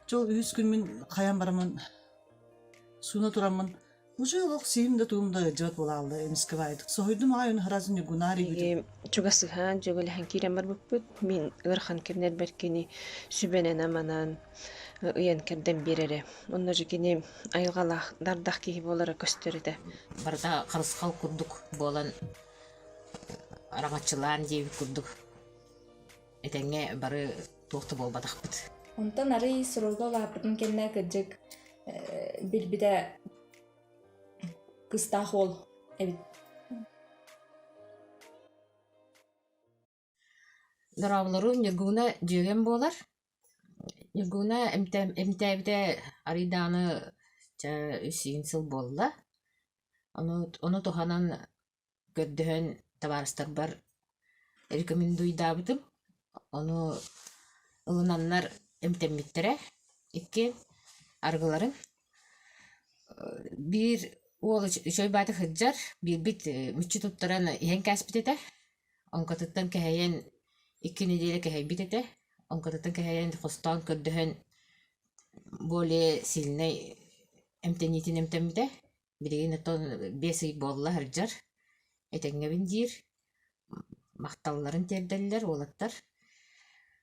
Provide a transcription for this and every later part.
Дьол үһүс күммүн хайан бараммын сууна тураммын уже олох сиһим да тугум да ыалдьыбат буолаалла эмискэбаайдык соһуйдум аҕай оны харасын ньугунаар ийигитин чугас сыһаан дьөгүлэһэн киирэн барбыппыт мин ыарахан кэмнэрбэр кини сүбэнэн-аманан ыйан кэрдэн биэрэрэ онно же кини айылҕалаах дардах киһи буолара көстөр этэ барыта харысхал курдук буолан араҥаччылаан диэбит курдук этэҥҥэ бары туох да буолбатахпыт. Онтон арый сролга улааппытын кэннэ кырдьык билбитэ кыстаах уол эбит. Дорооболору Ньургууна дьүөгэм буолар. Ньургууна эмтээбитэ арый даҕаны сиин сыл буолла. Ону, ону туһанан көрдөһөн табаарыстарбар рекомендуйдаабытым. Ону ылынаннар эмтэммиттэрэ. Иккиэн арыгыларын. Биир уол үчү айбаата сылдьар, биирбит мүччү туттаран иһэн кээспит этэ. Оҥкотуттан кэһэйэн икки нэдиэлэ кэһэйбит этэ. Оҥкотуттан кэһэйэн хостоон көрдөһөн более сильнай эмтэниитин эмтэммитэ. Билигин ото биэс ый буолла сылдьар. Этэҥҥэбин диир. Махталларын тиэрдэллэр уолаттар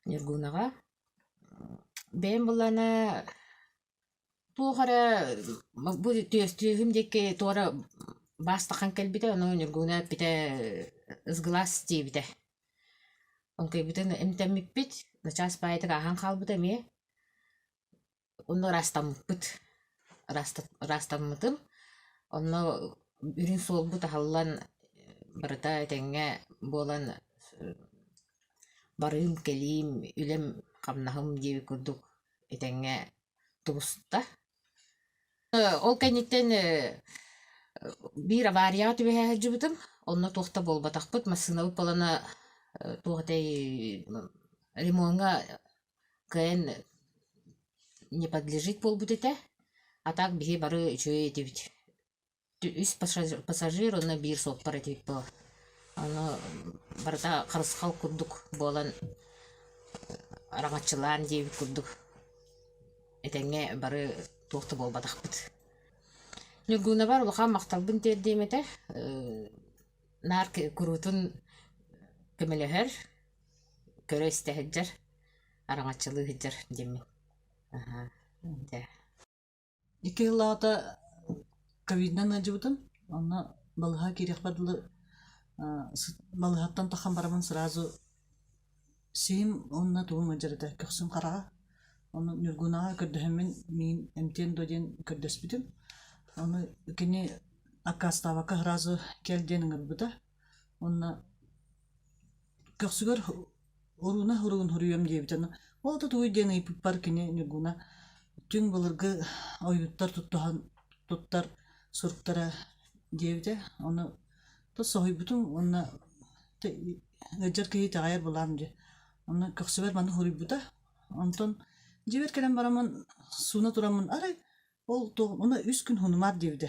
Ньургунаҕа. Бэйэм булана туох эрэ бу түөстүөһүм диэки туора баастахан кэлбитэ, ону Ньургуна эппитэ ысгылас диэбитэ. Оҥкойбутун эмтэммиппит, начаас баайытык ааһан хаалбыта эмиэ. Онно ыраастаммыппыт. Ыраастат- ыраастаммытым. Онно үрүн суолбут аһыллан барыта этэҥҥэ буолан барыым, кэлиим, үлэм, хамнаһым диэбит курдук этэҥҥэ тубуста. Ол кэнниттэн биир аварияҕа түбэһэ сылдьыбытым. Онно туох да буолбатахпыт. Массыынабыт буолана туох этэй ремоҥҥа кыайан не подлежит буолбут этэ, а так биһи бары үчүгэй этибит. Үс пассажир уонна биир суоппар этибит буолар. Аны барыта харысхал курдук буолан араҥаччылаан диэбит курдук этэҥҥэ бары туох да буолбатахпыт. Ньургуунабар улахан махталбын тиэрдиэм этэ. Наар куруутун көмөлөһөр көрө истэ сылдьар араҥаччылыы сылдьар диэммин аһаа дэ икки сыл аҕата ковидынан ыалдьыбытым онно балыһа киириэхпэр дылы балыһаттан тахан бараммын сразу сиим уонна тугум ыалдьар этэ көхсүм хараҕа ону ньургунаҕа көрдөһөммүн миин эмтиэн дуо диэн көрдөспүтүм ону кини аккаастаабакка сразу кэл диэн ыҥырбыта Уонна көхсүгэр «Оруна оругун хоруйуом» диэбитэ ну ол да тугуй диэн ыйыппыппар кини Ньургуна «Дьиҥ былыргы ойууттар туттуһан туттар суруктара» диэбитэ ону то соһуйбутум уонна то ыалдьар киһи итэҕэйэр былаан дии онно көхсүбэр маны хоруйбута онтон дьиэбэр кэлэн бараммын сууна тураммын арай ол туох уна үс күн хунумаар диэбитэ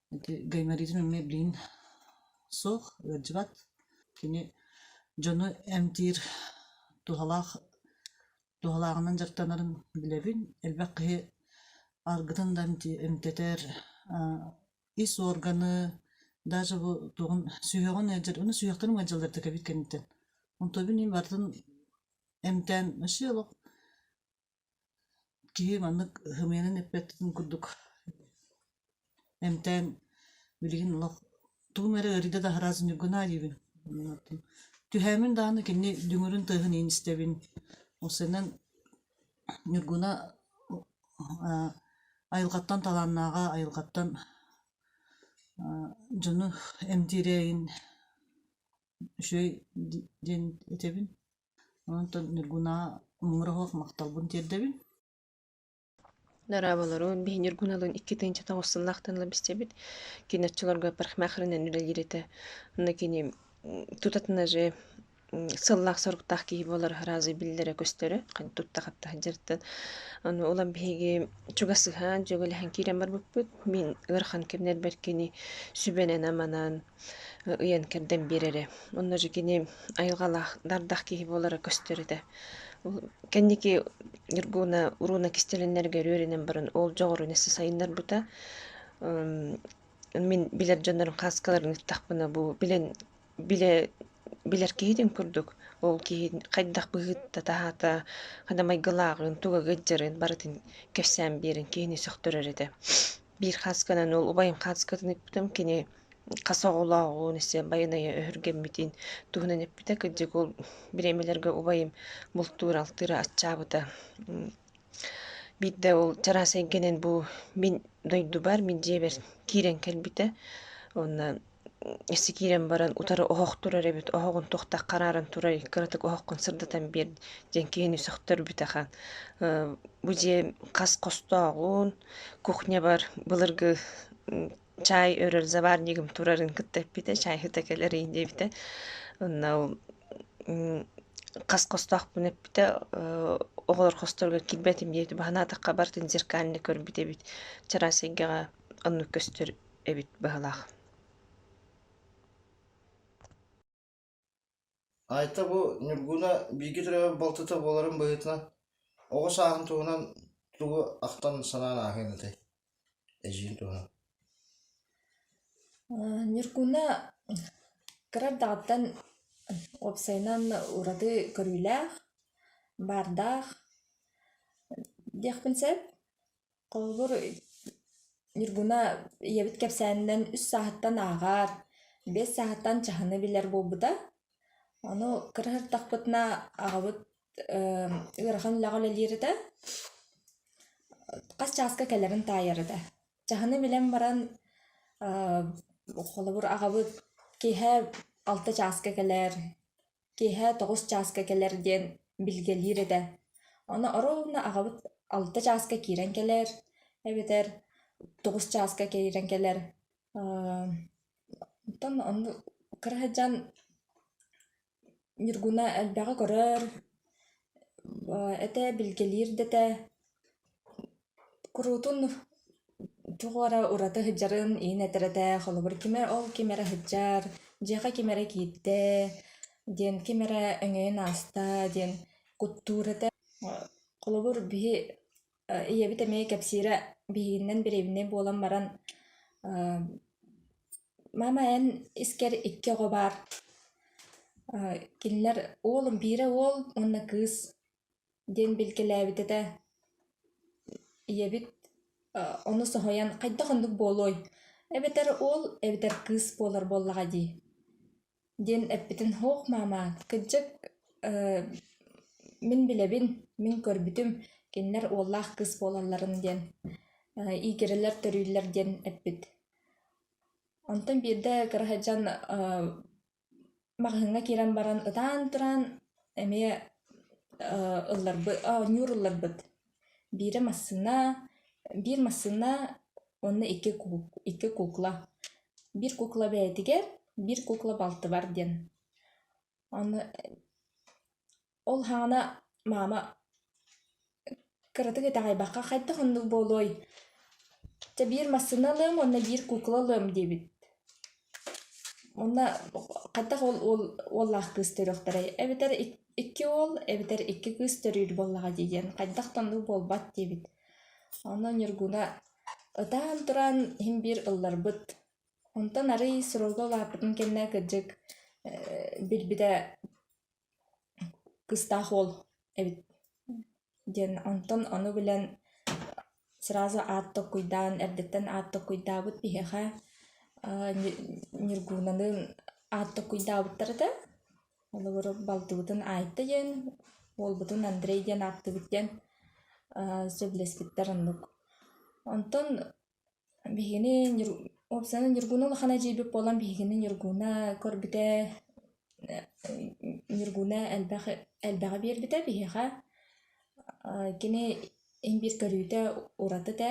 Ити гайморитын эмиэ билигин суох, ыалдьыбат. Кини дьону эмтиир туһалаах туһалааҕынан дьарыктанарын билэбин. Элбэх киһи аргытын да эмти- эмтэтэр, аа ис уорганы, даже бу тугун сүһүөҕүн ыалдьар, уну сүһүөхтэрин ыалдьаллар да кэбит кэнниттэн. Онтубун ии барытын эмтээн өссө олох Киһи маннык сымыйанан эппэттэрин курдук эмтээн билигин олох тугум эрэ ыарыыда да аһараат ньургунаа диибин түһээмин даҕаны кини дүҥүрүн тыаһын иһин истэбин ол сэрэнэн ньургуна айылҕаттан талааннааҕа айылҕаттан дьону эмтиирэ иһин үчүгэй диэн этэбин Онтон Ньургунаа муҥура суох махталбын тиэрдэбин. Нараабалару биһи Ньургуналыын икки тыынча тоҕус сыллаахтанылар бистэбит. Кини оччолорго парикмахерынан үлэлиир этэ. Аны кини тутатына же сыллаах-соруктаах киһи буолар разы биллэрэ-көстөрө, хань тутта-хатта сылдьарыттан. Аны улам биһиги чугас сыһаан, дьүөгэлэһэн киирэн барбыппыт. Мин ыарахан кэмнэрбэр кини сүбэнэн-аманан ыйан кэрдэн биэрэрэ. Онно же кини айылҕалаах дардах киһи буолара көстөр этэ. Кэнники Ньургууна урууна кистэлэннэргэ өрүөрүнэн баран ол дьоҕурун эссе сайыннарбыта. Мин билэр дьоннорум хааскаларын ыттахпына бу билэн билэ билэр киһитин курдук ол киһи хайдах быһыыта-таһаата, хана майгылааҕын, туга ыдьарын барытын кэпсээн биэрэн киһини сөхтөрөр этэ. Биир хаасканан ол убайым хааскатын эппитим, кини хас оҕолооҕун, истэн байанайа өһүргэммитин туһунан эппитэ. Кырдьык ол бириэмэлэргэ убайым бултуура-алтыыра аччаабыта. Биирдэ ол чараас эйгэнэн бу мин дойдубар, мин дьиэбэр киирэн кэлбитэ. Онно Өссө киирэн баран утары оһох турар эбит, оһоҕун туохтах хараарын турай, кыратык оһоххун сырдатан биэр диэн киһини сөхтөрбүт ахан. Бу дьиэ хас хостооҕун, кухнябар былыргы чаай өрөр заварнигым турарын кытта эппитэ, чай ыта кэлэрий диэбитэ. Онно ол хас хостоохпун эппитэ, оҕолор хосторго киирбэтим диэбитэ, баһан аатахха барытын зеркальна көрбүт эбит. Чараас эйгэҕэ оннук көстөр эбит быһалаах Айта бу Ньургуна бииргэ төрөөбүт балтыта буоларын быһыытынан оҕо сааһын туһунан тугу ахтан санаан ааһыан этэй эдьиин туһунан Ньургуна кырардаҕыттан уопсайынан ураты көрүүлээх баардаах диэхпин сөп Холобур, Ньургуна ийэбит кэпсээнинэн үс сааһыттан ааҕар, биэс сааһыттан чаһыны билэр буолбута. Ону кыра сырдахпытына аҕабыт эм ыарахан үлэҕэ үлэлиир этэ. Хас чааска кэлэрин таайар этэ. Чаһыны билэн баран э холобур, аҕабыт киэһэ алта чааска кэлэр, киэһэ тоҕус чааска кэлэр диэн билгэлиир этэ. Ону оруобуна аҕабыт алта чааска киирэн кэлэр эбэтэр тоҕус чааска киирэн кэлэр. Оттон онно кыра сыдьаан Ньургуна элбэҕи көрөр, этэ билгэлиир да этэ. Куруутун тугу эрэ ураты сыдьарыан иһин этэрэтэ, холобур, кимэ ол ким эрэ сыдьаар, дьиэхэ ким эрэ киирдэ диэн, ким эрэ өҥөйөн ааста диэн куттуур этэ. Холобур, биһи ийэбит эмиэ кэпсиирэ биһигиннэн бириэбинэй буолан баран «Мама эн искэр икки оҕо баар, кинилэр уолум биирэ уол уонна кыыс» диэн билгэлээбит этэ ийэбит ону соһуйан хайдах оннук буолуой эбэтэр уол эбэтэр кыыс буолар буоллаҕа дии диэн эппитин һуох маама кырдьык мин билэбин мин көрбүтүм кинилэр уоллаах кыыс буолалларын диэн иигирэлэр төрүүллэр диэн эппит онтон биирдэ кыра сылдьан Маҕаһыыҥҥа киирэн баран ытаан тураан эмиэ ылларбыт оонньуур ылларбыт. Биирэ массыына, биир массыына уонна икки кук икки кукла. Биир кукла бэйэтигэр, биир кукла балтыбар диэн. Ону Ол хаана маама кыратык итэҕэйбэххэ хайдах оннук буолуой? Чэ биир массыына ылыам уонна биир куукула ылыам диэбит. Уонна хайдах ол уол уоллаах кыыс төрүөхтэрэй? Эбэтэр икки уол, эбэтэр икки кыыс төрүүр буоллаҕа дии диэн хайдах да оннук буолбат диэбит. Онно Ньургуна ытаан тураан иһин биир ылларбыт. Онтон арыый суруулга улааппытын кэннэ кырдьык билбитэ кыстаах уол эбит диэн онтон ону билэн сразу аат токкуйдаан эрдэттэн аат токкуйдаабыт биһиэхэ ньургуунаны аат токкуйдаабыттар этэ холобур балтыбытын аайта диэн уолбутун андрей диэн ааттыыбыт диэн сөбүлэспиттэр оннук онтон Биһигини Ньург уопсайынан Ньургуна улахана дьиэбит буолан биһигини Ньургуна көрбүтэ Ньургуна элбэх элбэҕи биэрбитэ биһиэхэ аа кини инбиир көрүүтэ ураты этэ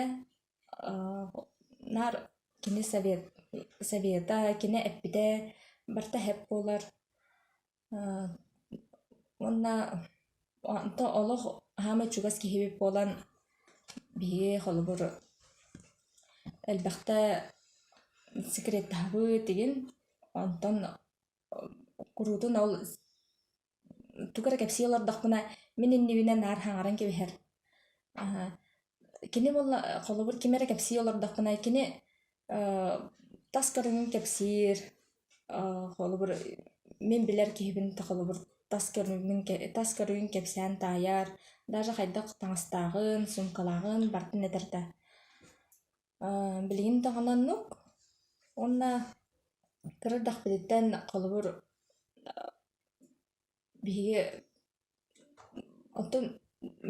аа наар кини совет совета кини эппитэ барыта эһэп буолар Уонна онто олох хаама чугас киһибит буолан биһиги холобур элбэхтэ секреттаһабыт игин онтон куруутун ол тугу эрэ кэпсии олордохпуна мин иннибинэ наар хаҥаран кэбиһэр Кини буолла холобур ким эрэ кэпсии олордоххуна кини э, тас көрүҥүн кэпсиир, э, холобур мин билэр киһибин та холобур тас көрүҥүн тас көрүҥүн кэпсээн таайар, даже хайдах таҥастааҕын, суумкалааҕын бартын этэртэ. Э, билигин да оннук уонна кыра эрдэхпититтэн холобур биһиги онтум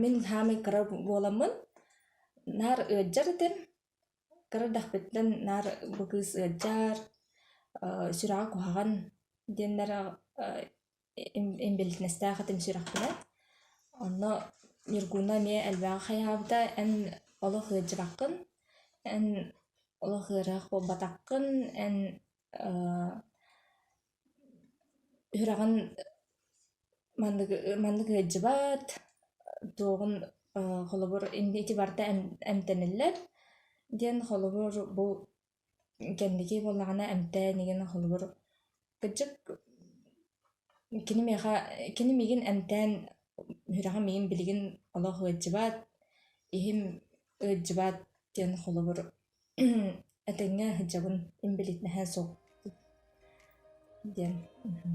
мин саамай кыра буоламмын наар ыалдьар этим кыра эрдэхпиттэн наар бу кыыс ыалдьар сүрэҕэ куһаҕан диэннэр инбэлиитинэстээх этим сүрэхпинэн онно ньургууна эмиэ элбэҕи хайаабыта эн олох ыалдьыбаккын эн олох ыарыһах буолбатаххын эн Үһүрэҕин маннык маннык ыалдьыбат, туоҕун аа холобур инде ити барыта эмтэниллэр диэн холобур бу кэнники буоллаҕына эмтээн игин холобур кыдьык кини миэхэ кини миигин эмтээн үһүрэҕим миигин билигин олох ыалдьыбат, иһим ыалдьыбат диэн холобур Этэҥҥэ сылдьабын инбэлиит наһаа суох диэн мм